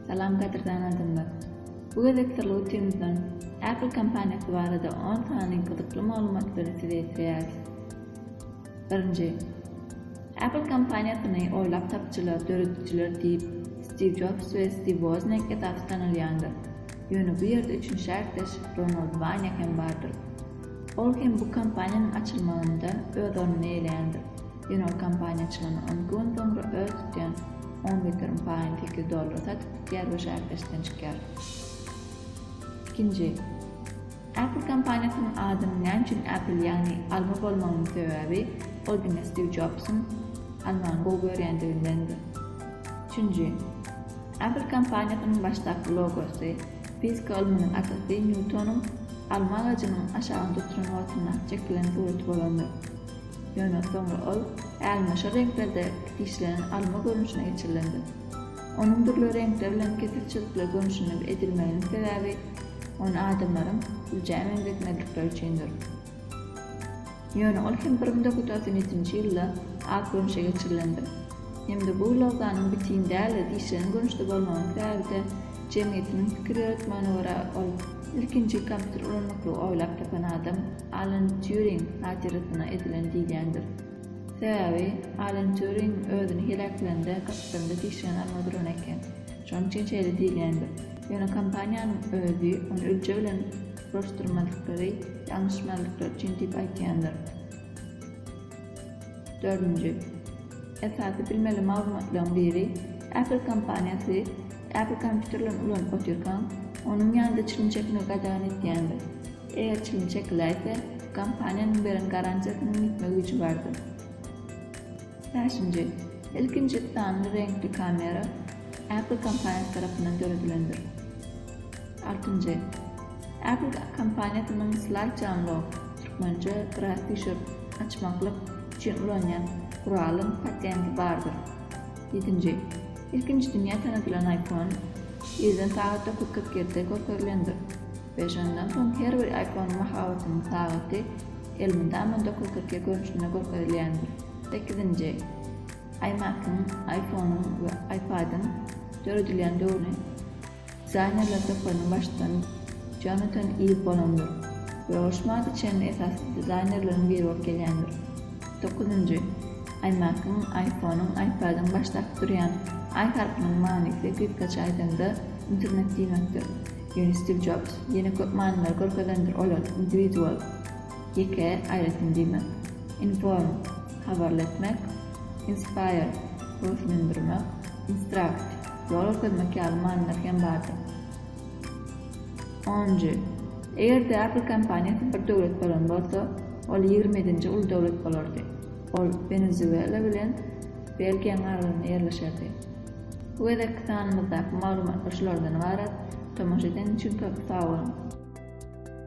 Salam gadyrdan adamlar. Bu gezek Solutions-dan Apple kompaniýasy barada on sany gyzykly maglumatlary size ýetirýäris. Birinji. Apple kompaniýasyny oýlap tapjylar, döredijiler diýip Stiw Jobs we Stiw Wozniak esasy tanalýandyr. Ýöne bu ýerde üçünji ärdeş Ronald Wanýa hem bardyr. Ol hem bu kompaniýanyň açylmagynda öz ornuny eýleýändir. Ýöne kompaniýaçylygyny ynkywan soňra öz tutýan on geterim paýyny sekiz dollara satyp gidýär we şäherdeşikden çykýar. Ikinji. Apple kompaniýasynyň adynyň näme üçin Apple ýagny alma bolmagynyň sebäbi ol diňe Stiw Jobsyň almany gowy görýändigindendir. Üçünji. Apple kompaniýasynyň başdaky logosy, fizika ylmynyň atasy Nýutonyň alma agajynyň aşagyny tuturan wagtyndaky çekilen suraty bolandyr. Ýöne soňra ol äl-maşar reňklerde işlenen alma görnüşine geçirilendir. Onuň dürli reňkler bilen kesik çyzykly görnüşinde edilmeginiň sebäbi ony adamlaryň güljä meňzetmezlikleri üçindir. Ýöne ol hem bir müň dokuz ýüz togsan ýedinji ýylda ak görnüşe geçirilendir. Hem-de bu loganyň bitin däl-de, dişlenen görnüşde bolmagynyň sebäbi-de, Jemgyýetiniň pikir ýöretmegine görä, ol ilkinji kompýuter ulanmaklygy oýlap tapan adam Alan Týuring hatyrasyna edilen diýilýändir. Sebäbi Alan Týuring özüni heläklände gapdalynda dişigini alma duran eken. Şonuň üçin şeýle diýilýändir. Ýöne kompaniýanyň özi ony ölje bilen uruşdyrmadyklary ýalňyşmazlyklar üçin diýip aýtýandyr. Dördünji. Esasy bilmeli maglumatlaryň biri, Apple kompaniýasy Apple kompýuterlerini ulanyp otyrkaň, onuň ýanynda çilim çekmegi gadagan etýändir. Eger çilim çekiläýse, kompaniýanyň beren garantiýasynyň ýitme güýji bardyr. Bäşinji. Ilkinji sanly reňkli kamera Apple kompaniýasy tarapyndan döredilendir. Altynjy. Apple kompaniýasynyň Slide Unlock, türkmençe, Biraz düşür, açmaklyk, üçin ulanýan guralyň patenti bardyr. Ýedinji. Ilkinji dünýä tanadylan iPhone ýerden sagat dokuz kyrk ýedide görkezilendir we şondan soň her bir iPhone-yň mahabatynyň sagaty elmydama dokuz kyrk ýedi görnüşinde görkezilýändir. Sekizinji. iMac-yň, iPhone-yň we iPad-yň döredilýän döwrüni. Dizaynerler toparynyň baştutany Jonatan Iw bolandyr we ol şumaga çenli esasy dizaynerleriň biri bolup gelýändir. Dokuzynjy, iMac-yň, iPhone-yň, iPad-yň başdaky durýan I harpynyň manysy gysgaça aýdaňda internet diýmekdir. Ýöne Stiw Jobs ýene köp manylary görkezendir olar, individual, ýeke, aýratyn diýmek, inform, habarly etmek, inspire, höweslendirmek, instruct, Zora sözmek ýaly manylar hem bardyr. Onunjy. Eger-de Apple kompaniýasy bir döwlet bolan bolsa, ol ýigrimidinji uly döwlet bolardy. Ol Wenezuela bilen Belgiýanyň aralygynda ýerleşerdi. Bu gezekki sanymyzdaky maglumatlar şulardan ybarat, tomaşa edeniň üçin köp sag boluň!